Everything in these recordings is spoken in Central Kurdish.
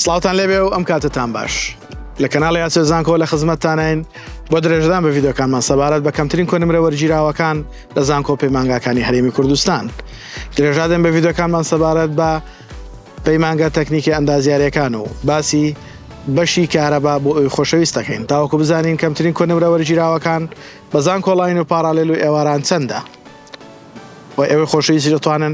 سڵاوتان لێبێ و ئەم کاتەتان باش. لە کەناڵی ئاسۆی زانکۆ لە خزمەتتانین بۆ درێژەدان بە ڤیدیۆکانمان سەبارەت بە کەمترین کۆنمرە وەرگیراوەکان لە زانکۆ پەیمانگاکانی هەرێمی کوردستان. درێژا دەین بە ڤیدیۆکانمان سەبارەت بە پەیمانگا تەکنیکی ئەندازیارەکان و باسی بەشی کارەبا بۆ ئەوی خۆشەویست دەکەین تاوەکو بزانین کەمترین کۆنمرە وەرگیراوەکان بە زانکۆڵاین و پاراڵێل و ئێواران چەندە؟ وە ئێوەی خۆشەویستی دەتوانن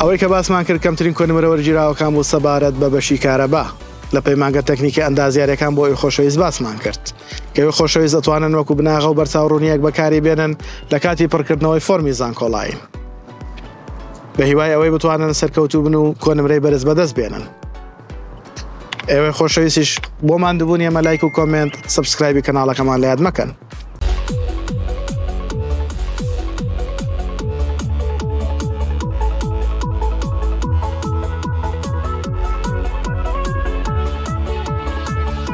ئەوەی کە باسمان کرد کەمترین کۆنمرە وەرگیراوەکان بوو سەبارەت بە بەشی کارەبا لە پەیمانگە تەکنیکی ئەندازیارەکان بۆ ئەوی خۆشەویست باسمان کرد کەوی خۆشەویست ئەتوانن وەکو بناغە و بەرچاو ڕوونیەک بەکاری بێنن لە کاتی پڕکردنەوەی فۆرمی زانکۆڵاین بە هیوای ئەوەی بتوانن سەرکەوتوبن و کۆنمرەی بەرز بەدەست بێنن. ئێوەی خۆشەویستیش بۆ ماندوبوون ئێمە لایک و کۆمنت سبسکرایبی کەناڵەکەمان لە یاد مەکەن.